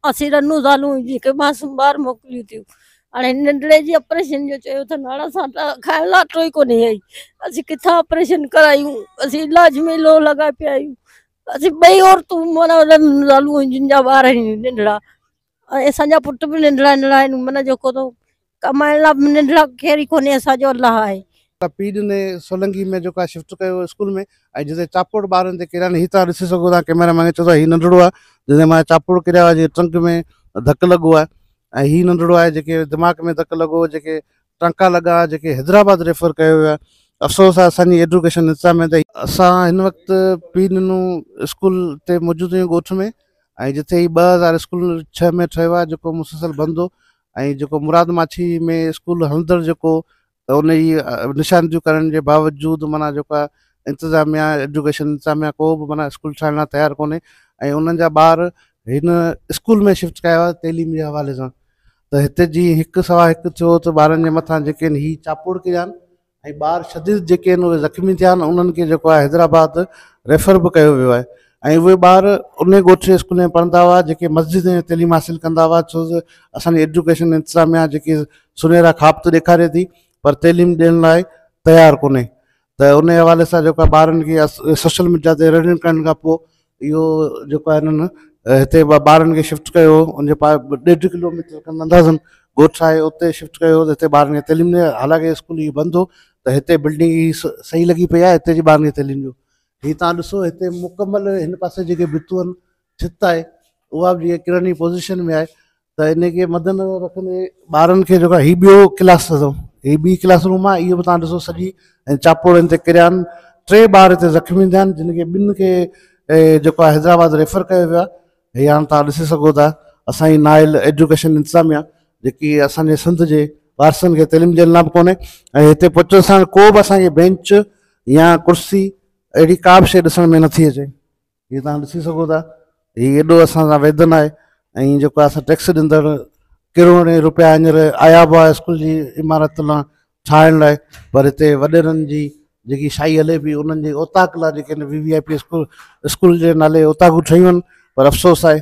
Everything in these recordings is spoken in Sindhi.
اسين رنو زالون جيڪي معصوم ٻار موڪليون ٿيون هاڻي ننڍڙي جي آپريشن جو چيو اٿن هاڻي اسان کائڻ لاء اٽو ئي ڪونهي آئي اسين ڪٿان آپريشن ڪرايون اسين علاج ۾ لوهه لڳائي پيا آهيون اسين ٻئي عورتون مانا رنو زالون جن جا ٻار آهن ننڍڙا ۽ اسان جا پٽ به ننڍڙا ننڍڙا آهن مانا جيڪو تو ڪمائڻ لا ننڊ لا خير ئي ڪونهي اسان جو الله آهي. ته پي ڏني سولنگي ۾ جيڪو آهي شفٽ ڪيو ويو اسڪول ۾ ۽ جتي چاپوڙ ٻارن تي ڪريا آهن هي توهان ڏسي سگهو ٿا ڪئميرا مين کي چئو ته هي ننڍڙو آهي جنهن تي مايا چاپوڙ ڪريا هئا جيڪي ٽرنڪ ۾ ڌڪ لڳو آهي ۽ هي ننڍڙو آهي جيڪي دماغ ۾ ڌڪ لڳو هو جيڪي ٽانڪا لڳا هئا جيڪي حيدرآباد ريفر ڪيو ويو آهي افسوس آهي اسان جي ايڊوڪيشن نظام ۾ ته اسان هن وقت پي ڏنو اسڪول تي موجود آهيون ڳوٺ ۾ ۽ جتي هي ٻه هزار اسڪول ڇهه ۾ ٺهيو آهي جيڪو مسلسل بند هو ۽ جيڪو مراد ماڇي ۾ اسڪول هلندڙ جيڪو انهي نشاندهيون ڪرڻ جي باوجود معنيٰ جيڪا انتظاميا ايڊوڪيشن انتظاميا ڪو به معنيٰ اسڪول ٺاهڻ لاء تيار ڪونهي ۽ انهن جا ٻار هن اسڪول ۾ شفٽ ڪيا ويا تعليم جي حوالي سان ته هتي جي هڪ سوا هڪ ٿيو ته ٻارن جي مٿان جيڪي هي چاپوڙ ڪيا آهن ۽ ٻار شديد جيڪي آهن اهي زخمي ٿيا آهن انهن کي جيڪو آهي حيدرآباد ريفر به ڪيو ويو آهي ۽ اهي ٻار انهي ڳوٺ جي اسڪول ۾ پڙهندا هئا جيڪي مسجد ۾ تعليم حاصل ڪندا هئا ڇو ته اسان جي ايڊيوڪيشن انتظاميا جيڪي سنهرا خواب ته ڏيکاري ٿي پر تعليم ڏيڻ لاء تيار ڪونهي ته انهي حوالي سان جيڪو آهي ٻارن کي سوشل ميڊيا تي رڙيون ڪرڻ کان پوء اهو جيڪو آهي هنن هتي ٻارن کي شفٽ ڪيو ان جي پاء ڏيڍ ڪلو ميٽر کن اندازن ڳوٺ آهي اتي شفٽ ڪيو هتي ٻارن کي تعليم ڏي حالانڪه اسڪول هي بند هو ته هتي بلڊنگ هي صحيح لڳي پئي آهي هتي جي ٻارن کي تعليم ڏيو هي تان ڏسو هتي مڪمل هن پاسي جيڪي ڀتون ڇت آهي اها به جيئن ڪرڻي پوزيشن ۾ آهي ته ان کي مد نظر رکندي ٻارن کي جيڪو هي ٻيو ڪلاس اٿو هي ٻي ڪلاس روم آ اهو به تان ڏسو سڄي ۽ چاپوڙ هن تي ڪريا آهن ٽي ٻار هتي زخمي ٿيا آهن جن کي ٻن کي جيڪو آهي حيدرآباد ريفر ڪيو ويو آهي هي هاڻ تان ڏسي سگهو ٿا اسان جي نااهل ايجوڪيشن انتظاميا جيڪي اسان جي سنڌ جي وارثن کي تعليم ڏيڻ لا به ڪونهي ۽ هتي پهچڻ سان ڪو به اسان کي بينچ يا ڪرسي اهڙي ڪا به شيء ڏسڻ ۾ نٿي اچي جيئن توهان ڏسي سگهو ٿا هي ايڏو اسان سان ويڌن آهي ۽ جيڪو اسان ٽيڪس ڏيندڙ ڪروڙين روپيا هينئر آيا به هئا اسڪول جي عمارت لاء ٺاهڻ لاء پر هتي وڏيرن جي جيڪي شاهي هلي پئي انهن جي اوطاق لاء جيڪي V V I P school school جي نالي اوطاقون ٺهيون آهن پر افسوس آهي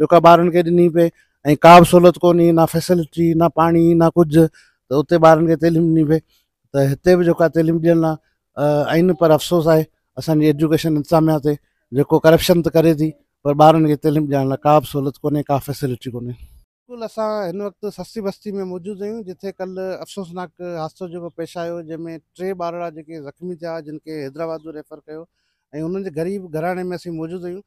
جيڪا ٻارن کي ڏني پئي ۽ ڪا به سھولت ڪونھي نه فيسلٽي نه پاڻي نه ڪجھه ته اتي ٻارن کي تعليم ڏني پئي ته ھتي به جيڪا تعليم ڏيڻ لا آھن پر افسوس آھي اسان جي ايجوڪيشن انتظاميا تي جيڪو ڪرپشن ته ڪري ٿي پر ٻارن کي تعليم ڏيڻ لا ڪا به سھولت ڪونھي ڪا فيسلٽي ڪونھي. بلڪل اسان ھن وقت سستي بستي ۾ موجود آھيون جتي ڪلھ افسوسناڪ حادثو جيڪو پيش آيو جنھن ۾ ٽي ٻارڙا جيڪي زخمي ٿيا جن کي حيدرآباد به ريفر ڪيو ۽ انھن جي غريب گھراڻي ۾ اسين موجود آھيون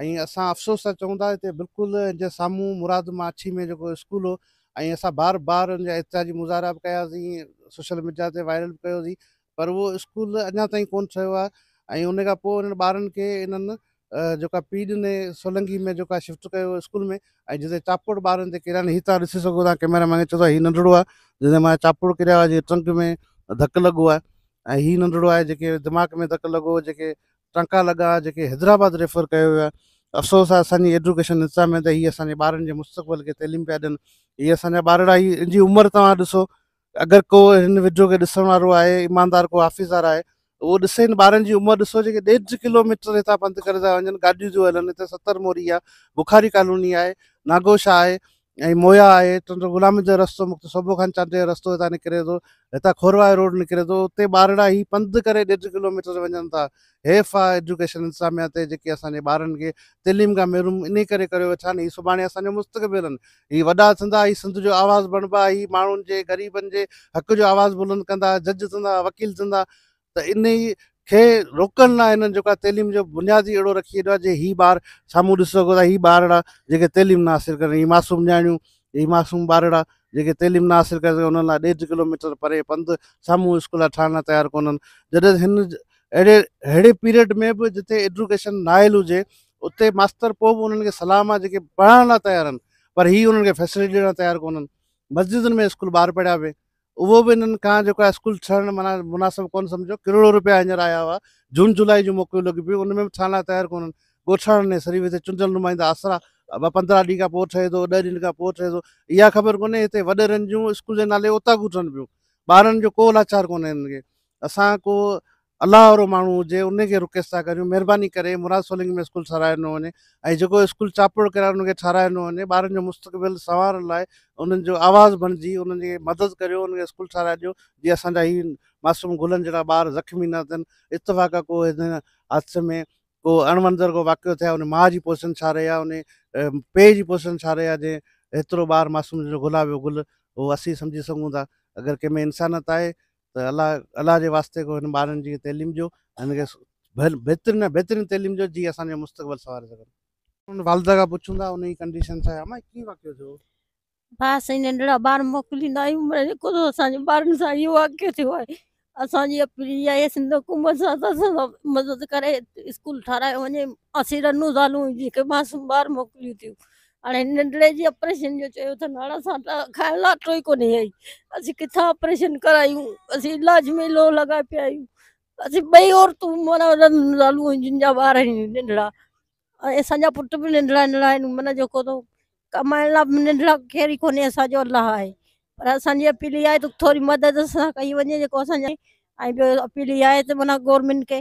۽ اسان افسوس سان چئون ٿا ته بلڪل ان جي سامهون مراد مان اڇي ۾ جيڪو اسڪول هو ۽ اسان بار بار ان جا احتجاجي مظاهرا به ڪياسين سوشل ميڊيا تي وائرل به ڪيوسين پر اهو اسڪول اڃا تائين ڪون ٺهيو آهي ۽ ان کان پوء انهن ٻارن کي انهن جيڪا پي ڏني سولنگي ۾ جيڪا شفٽ ڪيو ويو اسڪول ۾ ۽ جتي چاپوڙ ٻارن تي ڪريا هي تان ڏسي سگهو ٿا ڪيميرا مين کي چئو ٿا هي ننڍڙو آهي جنهن تي مايا چاپوڙ ڪريا هئا جي ٽرنڪ ۾ ڌڪ لڳو آهي ۽ هي ننڍڙو آهي جيڪي دماغ ۾ ڌڪ لڳو جيڪي ٽنڪا لڳا جيڪي حيدرآباد ريفر ڪيو ويو آهي افسوس آهي اسان جي ايڊوڪيشن نظام ۾ ته هي اسان جي ٻارن جي مستقبل کي تعليم پيا ڏين هي اسان جا ٻارڙا هي ان جي عمر توهان ڏسو اگر ڪو هن وڊيو کي ڏسڻ وارو آهي ايماندار ڪو حافظار آهي اهو ڏسي هن ٻارن جي عمر ڏسو جيڪي ڏيڍ ڪلوميٽر هتان پنڌ ڪري ٿا وڃن گاڏيون ٿيون هلن هتي ستر موري آهي بخاري ڪالوني آهي ناگوشا آهي ۽ مويا آهي تنهنجو غلامين جو رستو مختصر صوبو خان چانڊيو جو رستو هتان نڪري ٿو هتان کورواهي روڊ نڪري ٿو اتي ٻارڙا هي پنڌ ڪري ڏيڍ ڪلوميٽر تي وڃن ٿا حيف آ ايجوڪيشن انتظاميا تي جيڪي اسان جي ٻارن کي تعليم کان محروم انهي ڪري ڪريو ويٺا آهن هي سڀاڻي اسان جو مستقبل آهن هي وڏا ٿيندا هي سنڌ جو آواز بڻبا هي ماڻهن جي غريبن جي حق جو آواز بلند ڪندا جج ٿيندا وڪيل ٿيندا ته انهي کي روڪڻ لاء هنن جيڪو آهي تعليم جو بنياد ئي اهڙو رکي ڇڏيو آهي جي هي ٻار سامهون ڏسي سگهو ٿا هي ٻارڙا جيڪي تعليم نه حاصل ڪري هي معصوم نياڻيون هي معصوم ٻارڙا جيڪي تعليم نه حاصل ڪري سگهن انهن لاء ڏيڍ ڪلو ميٽر پري پنڌ سامهون اسڪول ٺاهڻ لاء تيار ڪونهن جڏهن هن اهڙي اهڙي پيريڊ ۾ به جتي ايڊوڪيشن نااهل هجي اتي ماستر پوء به انهن کي سلام آهي جيڪي پڙهائڻ لاء تيار آهن پر هي انهن کي فيسلٽي ڏيڻ لاء تيار ڪونهن مسجدن ۾ اسڪول ٻار پڙهيا پئي اهو به انهن کان جيڪو آهي اسڪول ٺهڻ معنيٰ مناسب ڪونه سمجهيو ڪروڙون رپيا هينئر آيا هئا جون جولائي جون موڪلون لڳيون پيون ان ۾ به ٺهڻ لاء تيار ڪونهن ڳوٺاڻن ۽ سريوي تي چونڊيل نمائندا آسرا ابا پندرهن ڏينهن کان پوء ٺهي ٿو ڏهه ڏينهن کان پوء ٺهي ٿو اها خبر ڪونهي هتي وڏيرن جون اسڪول جي نالي اوطاقون ٺهن پيون ٻارن جو ڪو لاچار ڪونهي هنن کي اسان ڪو الله وارو ماڻهو هجي انهي کي رڪيس ٿا ڪريون مهرباني ڪري مراد سولنگي ۾ اسڪول ٺهرايو نه وڃي ۽ جيڪو اسڪول چاپڙو ڪرايو ان کي ٺهرايو نه وڃي ٻارن جو مستقبل سنوارڻ لاء انهن جو آواز بڻجي انهن جي مدد ڪريو انهن کي اسڪول ٺهرائي ڏيو جي اسان جا هي معصوم گلن جهڙا ٻار زخمي نه ٿين اتفاق ڪو هن حادثي ۾ ڪو اڻوندر ڪو واقعو ٿيا ان ماء جي پوزيشن ڇا رهي آهي ان پيء جي پوزيشن ڇا رهي آهي جي هيترو ٻار معصوم جو گلاب جو گل اهو اسين سمجهي سگهون ٿا اگر ڪنهن ۾ انسانيت آهي ته الله الله جي واسطي ڪو هن ٻارن جي تعليم ڏيو ۽ هن کي بهترين ۾ بهترين تعليم ڏيو جيئن اسان جو مستقبل سنواري سگهن. ان والده کان پڇون ٿا انهي ڪنڊيشن ڇا آهي اما هي ڪيئن واقعو ٿيو. ڀاء اسين ننڍڙا ٻار موڪليندا آهيون پر جيڪو ته اسان جي ٻارن سان اهو واقعو ٿيو آهي اسان جي اپيل اها آهي سنڌ حڪومت سان ته اسان سان مدد ڪري اسڪول ٺارايو وڃي اسين رنون زالون جيڪي معصوم ٻار موڪليون ٿيون هاڻي ننڍڙي جي آپريشن جو چيو اٿن هاڻ اسان ته کائڻ لاء اٽو ئي ڪونهي اهي اسين ڪٿان آپريشن ڪرايون اسين علاج ۾ لوهه لڳائي پيا آهيون اسين ٻئي عورتون مانا زالون آهن جن جا ٻار آهن ننڍڙا ۽ اسان جا پٽ به ننڍڙا ننڍڙا آهن مانا جيڪو تو ڪمائڻ لاء به ننڍڙا ڪير ئي ڪونهي اسان جو الله آهي پر اسان جي اپيل اها آهي ته ٿوري مدد سان ڪئي وڃي جيڪو اسان جا ۽ ٻيو اپيل اها آهي ته مانا گورنمينٽ کي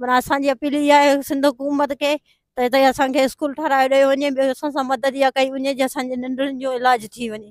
منا اسان جي اپيل اها آهي سنڌ حڪومت کي ته هتي اسان کي اسڪول ٺهرايو ڏيو وڃي ٻيو اسان سان مدد اها ڪئي وڃي جي اسان جي ننڊڙين جو علاج ٿي وڃي